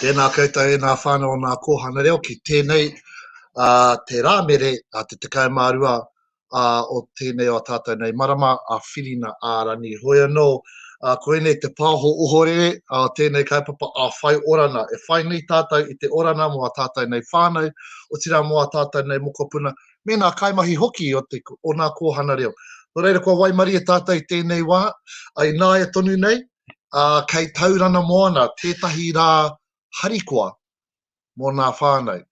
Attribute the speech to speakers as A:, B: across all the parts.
A: Tēnā koutou e ngā whānau o Ngā Kōhanga Reo ki tēnei te Rāmere te 12 o tēnei o a tātou nei marama a Whirina ā Rangi. Hoi anō, koinei te pāho ohorere o tēnei kaupapa a Whai Orana. E whai nui tātou i te orana mō a tātou nei whānau, otirā mō a tātou nei mokopuna me ngā kaimahi hoki o te o nā kōhana reo. Nō reira kua waimarie tātou i tēnei wā, a i nāia tonu nei, a kei Taurana Moana tētahi rā harikoa mō nā whānau.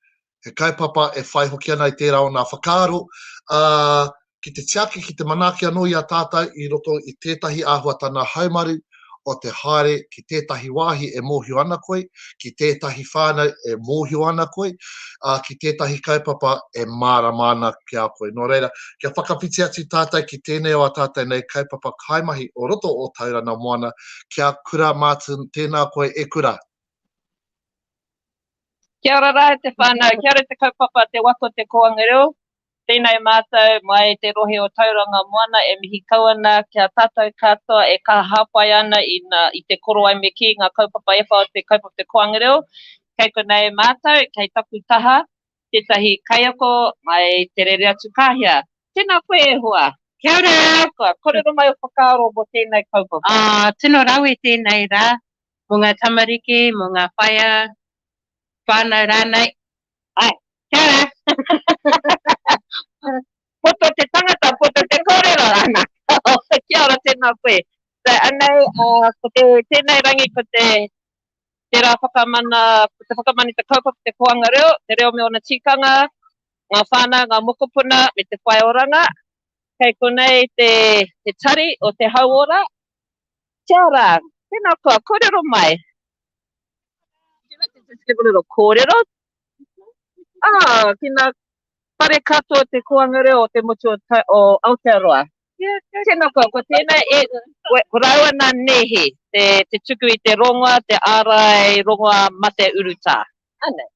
A: He kaupapa e whai hoki ana i tērā o nā whakaaro, a ki te tiaki, ki te manaaki anō i a tātou i roto i tētahi āhuatana haumaru, o te haere ki tētahi wāhi e mōhio ana koe, ki tētahi whānau e mōhio ana koe, ā, ki tētahi kaupapa e mārama ana ki a koe. Nō reira, kia whakawhiti atu tātou ki tēnei o ā tātou nei kaupapa kaimahi o roto o Tauranga Moana, Kia Kura Martin, tēnā koe e kura!
B: Kia ora rā e te whānau, kia ora te kaupapa Te Waka o Te Kōanga Reo, Tēnei mātou mai te rohe o Tauranga Moana e mihi kau ana ki a tātou katoa e kaha hāpai ana i te korowai me kī ngā kaupapa ewha o te kaupapa Te Koanga Reo. Kei konei mātou, kei taku taha, tētahi kaiako mai Te Rere Atu Kāhia. Tēnā koe e hoa! Kia ora! Kua kōrero mai o whakaaro mō tēnei kaupapa? Ā, tino rawe
C: tēnei rā mō ngā tamariki, mō ngā whaea, whānau rānei. Ai,
B: kia ora. poto te tangata, poto te kōrero, ana. kia ora, tēnā koe. So, anei, uh, ko te, tēnei rangi, ko te, te rā whakamana, ko te whakamana te kaupapa, te koanga reo, te reo me ona tīkanga, ngā whānau, ngā mokopuna, me te whai oranga. Kei konei te, te tari o te hauora, Kia ora, tēnā koa, kōrero mai. Would you like to just give a little kōrero? Oh, ki nā whare katoa te koanga reo o te motu o Aotearoa. Tēnā koa, ko tēnā e, ko rāua nā nēhi, te, te tuku i te rongoa, te ārai rongoa mate urutā. Anei.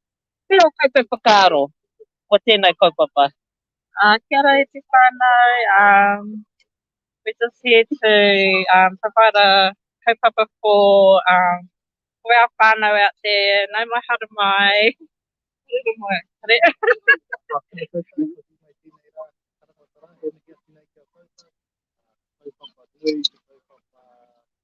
B: Pea o koutou whakaaro o tēnei kaupapa? Kia ora
C: e te whānau, We're just here to um, provide a kaupapa for um, for our whānau out there. Nau mai, haere mai. Haere mai.
D: Haere.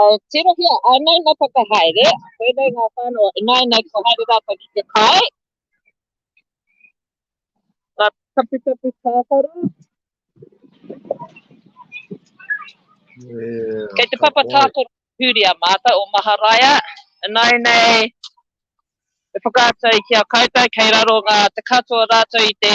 B: Uh, tirohia, anei na whakahaere, koenei ngā whānau, ināinei ko haere rātou ki te kai. Ka taputapu tākaro. Yeah, Kei te papa tākaro huri a mātou o Maharaia, ināinei e whakaatu ai ki a koutou, kei raro ngā te katoa rātou i te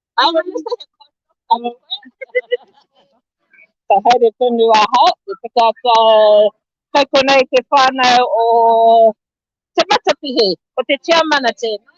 B: Awa ni sa he kōrero Ka haere tonu ahau, e tika atu au kai konei te whānau o Te Matapihi, ko te tiamana tēnei.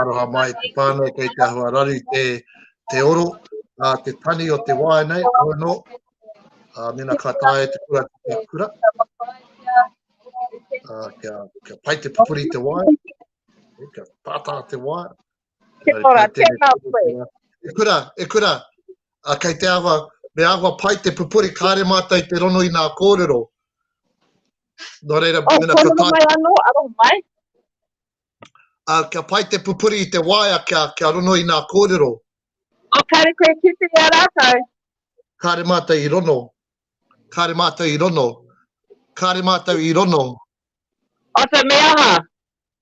A: Aroha mai te whānau kei te ahua rari te, te oro, a te tani o te wāi nei, hoi no, a mena ka tāia te kura ki te kura, a kia, kia pai te pupuri te wāi, kia tātā te wāi, Kia ora,
B: tēnā koe. E kura, e
A: kura. A, kei te awa, me awa pai te pupuri, kāre mātai te rono i nā kōrero. Nō reira, oh, mena ka tāi. Ano, aro mai.
B: A, kia
A: pai te pupuri i te waia, kia, kia rono i nā kōrero. O, kāre
B: koe ki te ia rātou. Kāre
A: mātai i rono. Kāre mātai i rono. Kāre mātai i rono. Ata
B: me aha?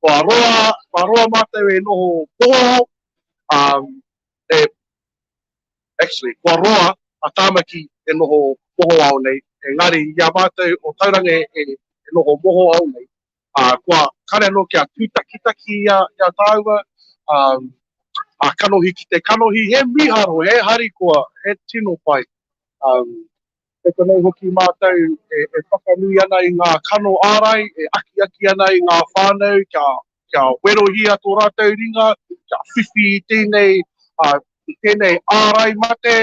D: Kua roa, kua roa mātou e noho pōro, um, e, actually, kua roa a Tāmaki e noho mohoao nei, engari i a mātou o Tauranga e, e, e noho mohoao nei, uh, kua kare anō kia tūtakitaki i a, i a tāua, um, a kanohi ki te kanohi, he miharo, he harikoa, he tino pai. Um, E konei hoki mātou e whakanui ana i ngā kano ārai, e akiaki ana i ngā whānau kia werohia tō rātou ringa, kia whiwhi i tēnei, i tēnei ārai mate,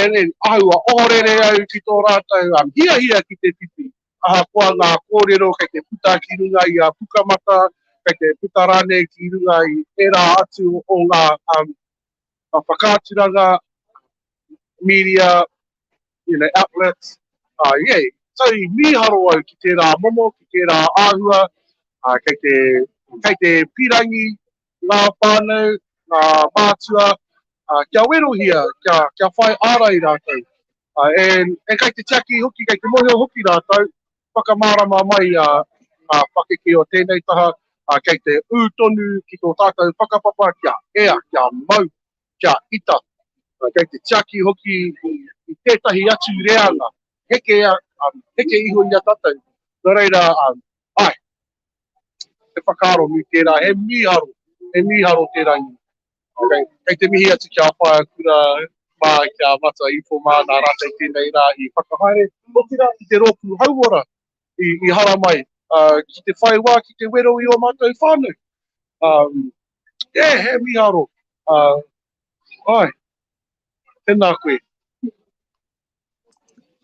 D: ēngari āhua ohorere au ki tō rātou hiahia ki te whiwhi, ahakoa ngā kōrero kei te puta ki runga i a Pukamata, kei te puta rānei ki runga i ērā atu o ngā uh, whakaaturanga, media, you know, outlets. Uh, yeah. So i mīharo au ki tērā momo, ki tērā āhua, uh, kei, te, kei te pirangi ngā whānau, ngā mātua, uh, kia werohia, kia, kia whai ārai rātou. Uh, and, and kei te tiaki hoki, kei te mohio hoki rātou, Whakamārama mai ngā pakeke o tēnei taha, kei te ū tonu ki tō tātou whakapapa kia ea, kia mau, kia ita, kei te tiaki hoki i tētahi atu reanga heke, heke iho i a tātou, nō reira, āe, he whakaaro nui tērā, he mīharo, he mīharo tērā i Okay. Kei te mihi atu ki a Whaea Kura mā, ki a Mata Ipo mā, nā rātou tēnei rā i whakahaere, otirā ki te rōpū hauora i, i haramai, uh, ki te whai wā, ki te wero i ō mātou whānau. Um, yeah, he miharo. Uh, ai, tēnā koe.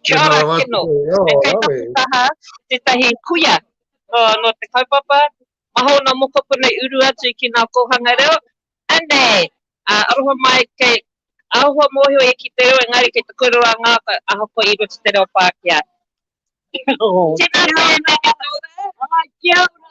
B: Kia ora kino, e kei taku taha tetahi kuia no te kaupapa Maha ona mokopuna i uru atu ki nga kohanga reo, anei, aroha mai kei ahua mohio e ki te reo engari kei te korero a ngata ahakoa i roto te reo Pakea. Tena tena. Kia ora. Kia ora.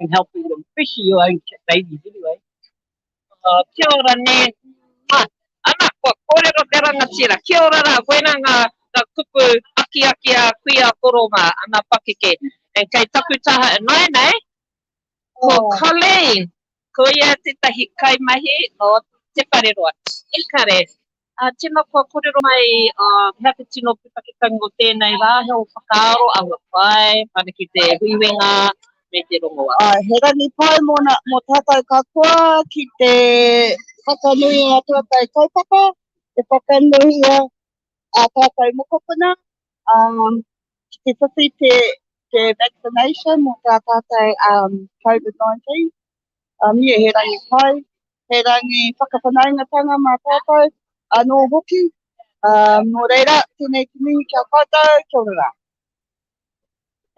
E: and helping them, especially your own babies anyway. Uh,
B: kia ora ne. Ah, ana, kua kōrero te rangatira. Kia ora rā, koina ngā, ngā kupu aki aki a kui a koronga, ana pakeke. And kei taku taha e nai nei, ko oh. Colleen, ko ia tētahi kaimahi no Te Whareroa. Ekare, Ā, tēnā kua kōrero mai ā mea te tino pūtaketanga o tēnei rā, he o whakaaro aua pae whanake te huiwenga me te rongoa. Ā, he rangi pai
F: mōna, mō tātou katoa ki te whakanui i ngā pūatae kaupapa e whakanuia ā tātou mokopuna, ā, ki te whiwhi te vaccination mō tā tātou Covid-19. A mie he rangi pai, he rangi whakawhanaungatanga mā tātou anō hoki. Nō reira, tēnei te mihi ki a koutou, kia ora rā.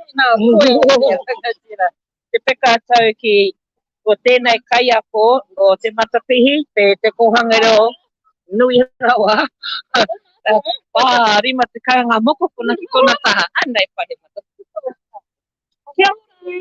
B: Tēnā koe e te rangatira. Te peka tau ki ko tēnei kaiako o Te Matapihi, te kōhanga reo nui rawa. Ā, rima tekau ngā mokopuna ki tōna taha. Anei Paremata. Kia ora!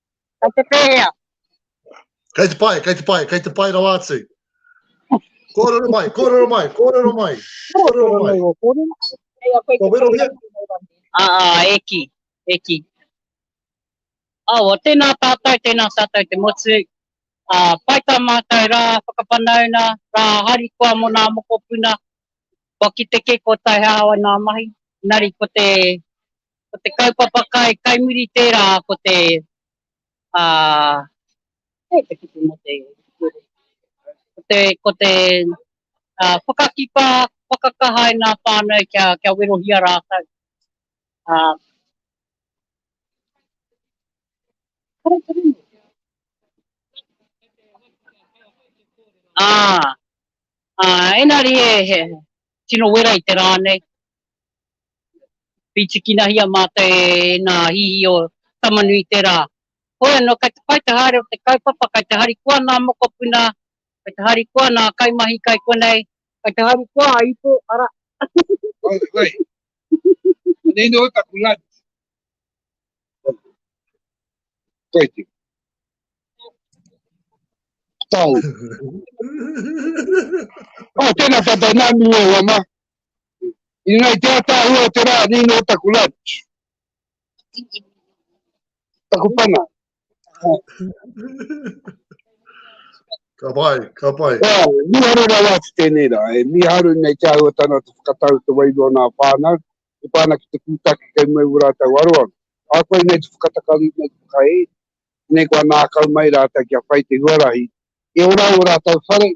B: Kei te pēhea?
A: Kei te pai, kei te pai, kei te pai rawa atu. Kōrero mai, kōrero mai, kōrero mai, kōrero mai. Kō wero hea? Ā, ā, e ki,
E: e ki. Awa, tēnā tātou, tēnā tātou te motu. Ā, pai tā mātou rā whakawhanauna, rā harikoa mō nā mokopuna. Kua kite kē kua tae hāwai nā mahi, engari ko te Ko te kaupapa kai, kai muri tērā ko te, ā, kai te kupu mō te kurī. Ko te, ko te, ā, whakakipa, whakakaha e ngā whānau kia, kia werohia rātou. Ā, kore te ringa. Ā, ā, engari he, he tino wera i te rā nei. Pītikinahia mātou e nā hihi o Tamanui tērā. Hoi anō, kai te pai te haere o te kaupapa, kai te harikoa nā mokopuna, kai te harikoa nā kaimahi kai konei, kai te harikoa a ipo, arā. By the
D: way, anei nō taku lunch. Koiti. Tau. Oh, tēnā tātou nā miwe wama. Inga i te ataahua o te rā, nino o taku lunch. Taku pana.
A: Ka pai, ka pai. Ea, mi haru rau
D: atu tēnei rā, e mi haru nei te ahua tana te whakatau te wairu o nā whānau, te pāna ki te kūtaki kei mua i wura tau aro aro. Ā koe nei te whakatakari nei te whakae, nei kua nākau mai rātau kia whai te huarahi, e ora au o rātau whare,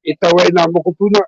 D: e tau ai nā mokopuna,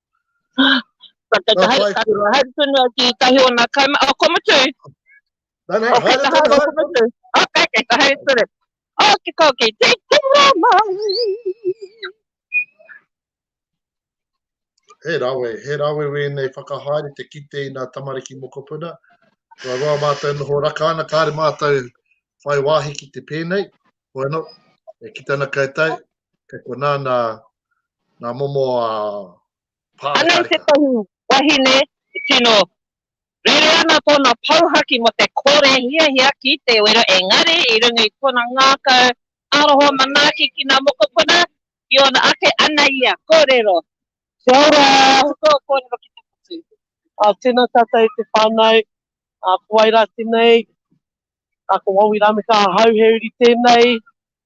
A: Hai
B: tonu au ki tahi o nā kaima, oh, ko mutu. No, no, okay, haere tonu, haere tonu. Okay, okay,
A: ka
B: haere tonu. Oh, ki kau ki te kura mai.
A: He rawe, he rawe wēnei whakahaere te kite i nā tamariki mokopuna. Kua roa mātou noho raka ana, kāre mātou whai wāhi ki te pēnei. Bueno, e ki tana kaitai, kei konā nā, nā momo a Pāotaika.
B: Anei tētahi wahine i tino rere ana tōna pouhaki mō te kore hiahia ki te wero engari i runga i tōna ngākau aroha manaaki ki ngā mokopuna i ōna ake ana ia kōrero. Kia ora!
E: Ko tō kōrero ki te
B: motu. Tēnā
E: tātou te whānau, puairā tenei, Ā, ko Wawi Rameka ahau, he uri tēnei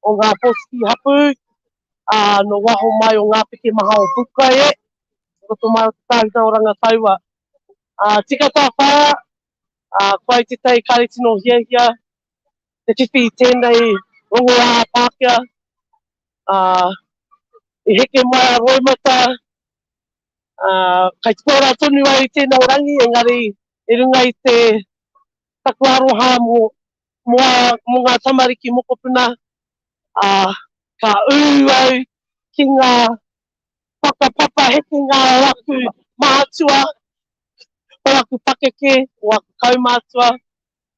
E: o ngā pōtiki hapū, ā, nō waho mai o ngā peke maha o Pupukai e, i roto mai o te tāhuna o Rangataua. Ā, tika tāwhāia, ā, kua i te tei kāre tino hiahia te whiwhi i tēnei rongoā Pākehā, ā, i heke mai a Roimata, ā, kai tupu ora tonu ai tēnei rangi, engari i runga i te Taku aroha mo mo mo nga tamariki mokopuna a ka u au ki nga whakapapa hekenga o aku mahatua o aku pakeke o aku kaumatua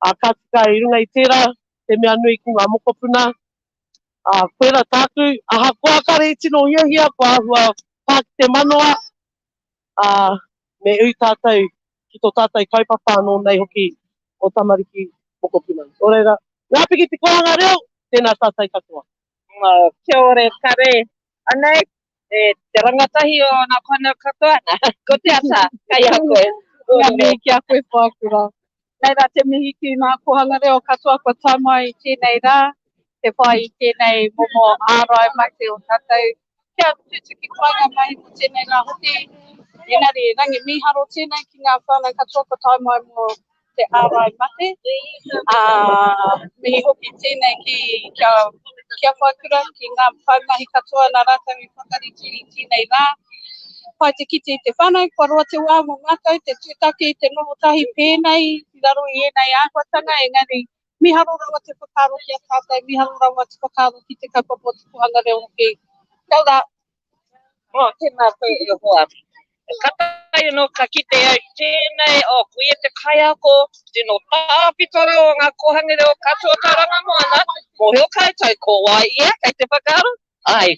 E: a ka tika i runga i tera te mea nui ki nga mokopuna a koira taku ahakoa kare i tino hiahia kua ahua pa ki te manawa ā, me ui tātou ki tō tātou kaupapa anō nei hoki o Tamariki Mokopuna. Nō reira, ngā piki te kōhanga reo, tēnā tātou katoa. Kia
B: ora e kare. Anei te rangatahi o ngā whānau katoa. Ko te ata, kei a koe. Kia mihi ki a
C: koe Whākura. Nei rā te mihi ki ngā kōhanga reo katoa kua tae mai i tēnei rā, te whai i tēnei momo ārai mate o tātou kia tutuki painga mai mō tēnei rā hoki. Engari, rangi mīharo tēnei ki ngā whānau katoa kua tae mai mō te ārai mate, ā, mihi hoki tēnei ki a Kia Whaikura, ki ngā kaimahi katoa nā rātou i whakarite i tēnei rā. Pai te kite i te whānau, kua roa te wā mō mātou te tūtaki i te noho tahi pēnei i raro i ēnei āhuatanga, engari mīharo rawa te whakaaro ki a tātou, mīharo rawa te whakaaro ki te kaupapa o te kōhanga reo hoki. Kia ora. Oh,
B: tēnā koe e hoa. Ka taea anō ka kite ai tēnei, oh, ko ia te kaiako, tino tāpito reo o ngā kōhanga reo katoa o Tauranga Moana, mōhio koutou ko wai ia kei te whakaaro, ai,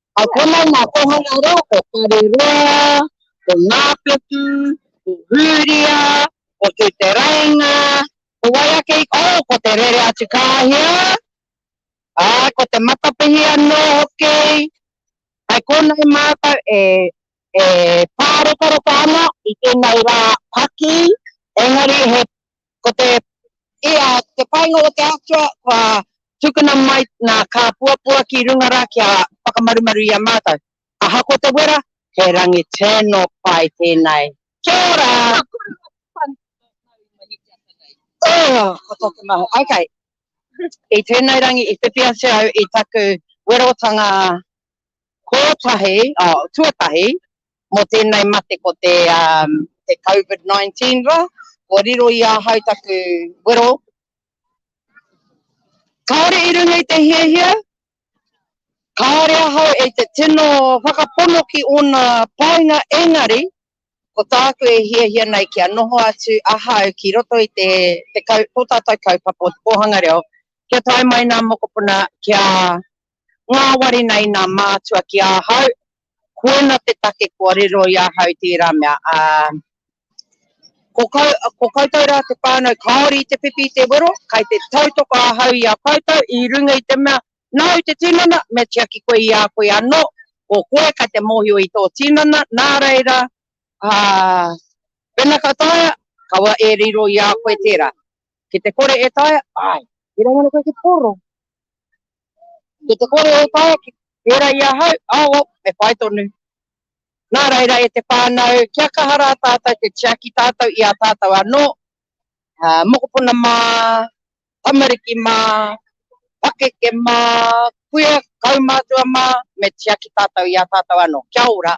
E: Ka konei ngā kohanga reo ko Whareroa, ko Ngāpuku, ko Hūria, ko Tūterainga, ko wai ake i, oh, ko Te Rere-atu-kāhia, āe, ko Te Matapihi anō hoki. Hai konei mātou e, e pārekareka ana i tēnei rā paki, engari he Ko te, i a, te painga o te Atua, kua tukuna mai nā Kāpuapua ki runga rā kia whakamarumaru i a mātou. Ahakoa te wera, he rangi tino pai tēnei. Kia ora! Ka kore ngā pāpānui ki tō Māori mahi te ata nei. Ō! Ko tōku mahi. Okay. I tēnei rangi i whiwhi atu au i taku werotanga kōtahi, oh, tuatahi, Mō tēnei mate ko te Covid 19 rā, kua riro i ahau taku wero, kāore i runga i te hiahia, kāore ahau i te tino whakapono ki ōna painga engari ko tāku e hiahia nei kia noho atu ahau ki roto i tō tātou kaupapa o te kōhanga reo kia tae mai nā mokopuna kia Ngāwari nei nā mātua ki ahau, koina te take kua riro i ahau tērā mea, ā, ko, ko koutou rā te whānau kāore i te whiwhi i te wero, kei te tautoko ahau i a koutou i runga i te mea, nāu te tinana, me tiaki koe i a koe anō, ko koe kei te mōhio i tō tinana, nā reira, ā, wena ka taea, kaua e riro i a koe tērā. Ki te kore e taea, āe. Tērā ngana koe ki te kōrero. Ko te kore o Tāwaki, pērā i ahau, awa, me whai tonu. Nā reira, e te whānau, kia kaha rā tātou te tiaki tātou i a tātou anō, mokopuna mā, tamariki mā, pakeke mā, kuia, kaumātua mā, me tiaki tātou i a tātou anō. Kia ora.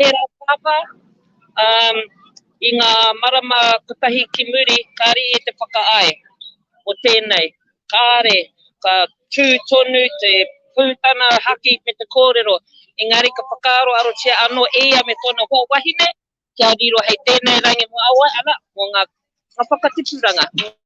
B: Tērā pāpā, um, i ngā marama kotahi ki muri, kāre i te whakaae o tēnei, kāre, ka tū tonu te pūtana haki me te kōrero, engari ka whakaaroarotia anō e ia me tōna hoa wahine kia riro hei tēnei rangi mō aua, ana, mō ngā whakatipuranga.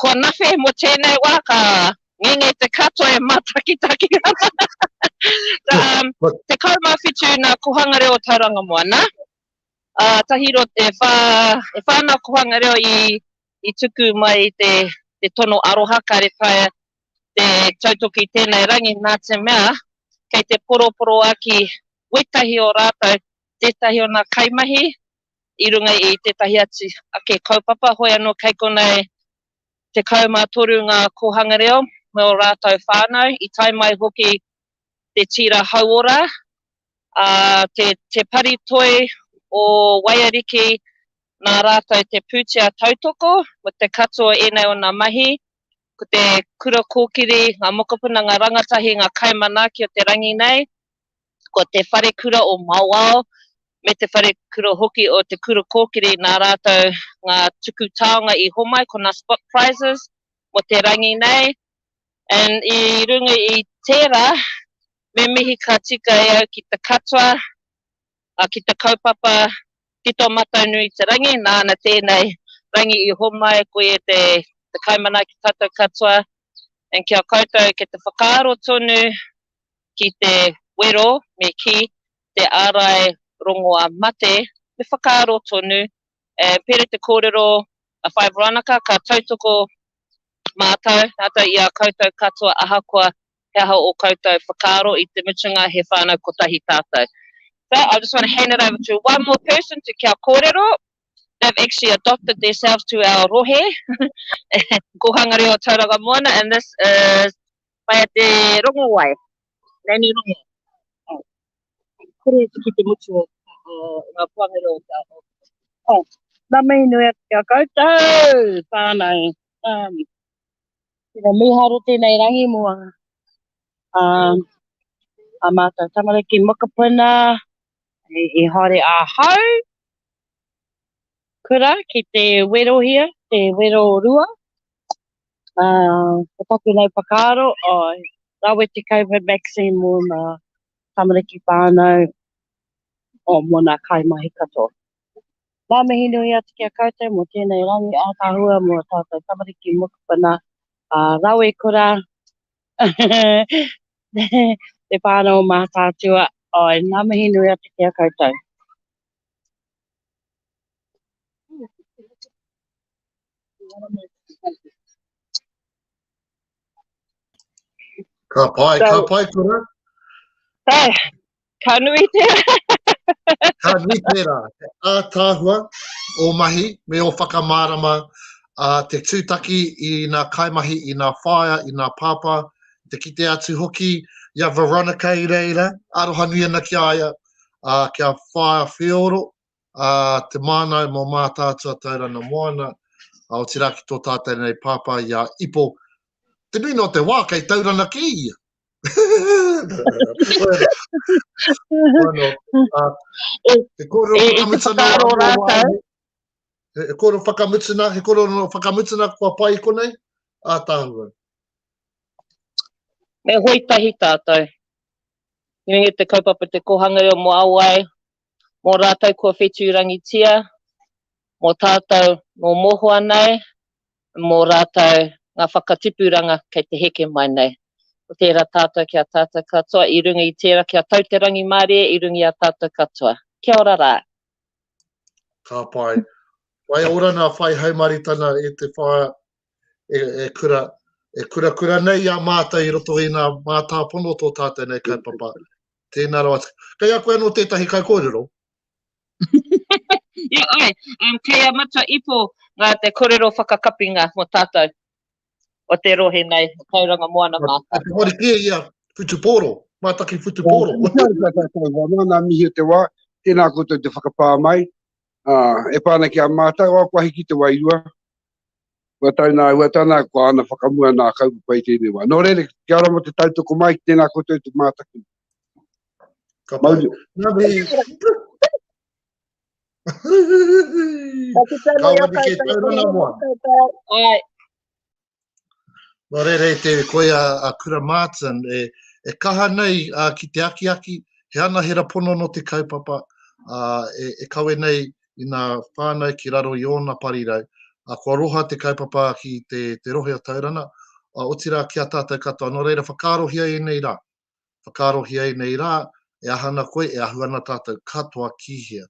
B: Kua nawhi mo tenei wa ka ngenge te katoa e matakitaki ana. um, tekau ma whitu na kohanga reo tauranga moa na. Uh, tahi ro e wha, e wha na kohanga reo i, i tuku mai te, te tono aroha ka re taia te tautoki tenei rangi na te mea kei te poroporo aki wetahi o ratou tetahi ona kaimahi i runga i tētahi atu ake kaupapa, hoi anō kei konei 13 ngā kōhanga reo me ō rātou whānau, i tae mai hoki te tīra hauora, ā, te, te pari toi o Waiariki nā rātou te pūtea tautoko me te katoa o ēnei ōna mahi, ko te kura kōkiri, ngā mokopuna, ngā rangatahi, ngā kaimanaaki o te rangi nei, ko Te Wharekura o Mauao me Te Wharekura hoki o Te Kura Kōkiri nā rātou ngā tuku taonga i homai ko nā Spot Prizes mō te rangi nei and i runga i tērā me mihi ka tika e au ki te katoa a ki te kaupapa ki tō matou nui te rangi nāna tēnei rangi i homai koe te te kaimanaaki tātou katoa and kia koutou ke te whakaaro tonu ki te wero me kī, te ārai rongoā mate, me whakaaro tonu, e pērā te kōrero a Whaea Veronica, ka tautoko mātou, rātou i a koutou katoa ahakoa he aha ō koutou whakaaro, i te mutunga he whānau kotahi tātou. So, I just want to hand it over to one more person to kia kōrero, they've actually adopted theirselves to our rohe, Kōhanga Reo o Tauranga Moana, and this is Pai a te rongo wai. Nanny rongo. Oh. Kore atu ki te mutu o nga puangere o te ao. Oh. Na mihi
E: nui atu kia koutou. Whanau. Um. Tena miharo tenei rangi mo a um, a mātou tamariki mokopuna i haere ahau. Kura ki te werohia, te wero rua, ā, ko taku nei whakaaro, āe, rawe te Covid vaccine mō ngā tamariki whānau, ō, mō ngā kaimahi katoa. Ngā mihi nui atu ki a koutou mō tēnei rangi ātaahua mō ō tātou tamariki mokopuna, ā, rawe kura te whānau o Mātaatua, āe, ngā mihi nui atu ki a koutou.
A: Ka pai, ka pai kura. Pai,
B: ka nui tērā.
A: ka nui tērā. A tāhua, o mahi, me o whakamārama, a te tūtaki i nā kaimahi, i nā whaea, i nā pāpā, te kite atu hoki, ia Veronica i reira, aroha nui ana ki a ia, ā, kia whāia wheoro te māngai mō Mātaatua Tairana Moana, otirā ki tō tātau nei pāpā i a Ipo. Te mīna o te wā, kei Taurana kē ia. He kōrero whakamutana e whakaaro rātau. He kōrero whakamutana, he kōrero whakamutana kua pai i konei, ātāhua.
B: Me hoi tahi tātau. Nui i te kaupapa Te Kōhanga Reo mō Awae, mō rātou kua whetūrangitia, mō tātou nō mohoa nei, mō rātou ngā whakatipuranga kei te heke mai nei. Ko tērā tātou ki a tātou katoa, i runga i tērā kia tau te rangimārie i runga i a tātou katoa. Kia ora rā!
A: Ka pai. Whai orana, whai haumaritana e te wha, e kurakura nei i a mātou i roto i ngā mātāpono o tō tātou nei kaupapa. Tēnā rawa atu. Kei a koe anō tētahi kaikōrero?
B: Ia ai, um, kei a Matua Ipo ngā te korero whakakapinga mo tātou o te rohe nei, o Tauranga Moana Mātaki. Te wari kia ia,
A: Whutupōro, Mātaki Whutupōro. Ko tātou tātou wā,
D: nā, nā mihi te wā, tēnā koutou te whakapā mai, uh, e pā ana ki a mātou, o kua hiki te wairua, Kua tau nā ua tana, kua ana whakamua nā kaupapa i tēnei wā. Nō reira, kia ora mō te tautoko mai ki tēnā koutou te mātaki. Ka mauri.
A: Nā mihi. Ka wani kei taurana moa. Ai. Nō reira, e te koia a Kura Martin, e, e kaha nei uh, ki te akiaki, he anahera pono no te kaupapa, uh, e, e kawe nei i nā whānau ki raro i ōna parirau, ā, kua roha te kaupapa ki te, te rohe o Taurana, ā, otirā ki a tātou katoa. Nō reira, whakaarohia ēnei rā. Whakaarohia ēnei rā, e aha ana koe, e ahu ana tātou katoa ki hea.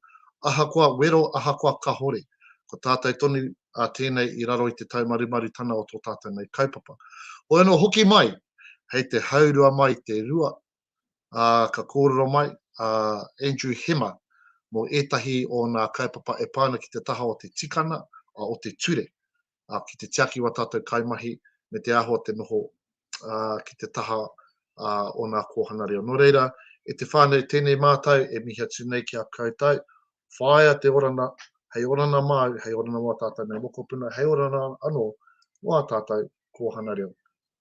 A: Ahakoa wero, ahakoa kahore, ko tātou tonu ā tēnei i raro i te taumarumarutana o tō tātou nei kaupapa. Hoi anō hoki mai, hei te haurua mai te rua ā, ka kōrero mai a Andrew Hema mō ētahi o nā kaupapa e pā ana ki te taha o te tikanga, ā, o te ture, ā, ki te tiaki i wā tātou kaimahi me te āhua te noho, ā, ki te taha, ā, o nā kōhanga reo. Nō reira, e te whānau tēnei mātau e mihi atu nei ki a koutou, whāia te orana, hei orana māu, hei orana mō ā tātou nei mokopuna, hei orana anō mō ā tātou kōhanga reo.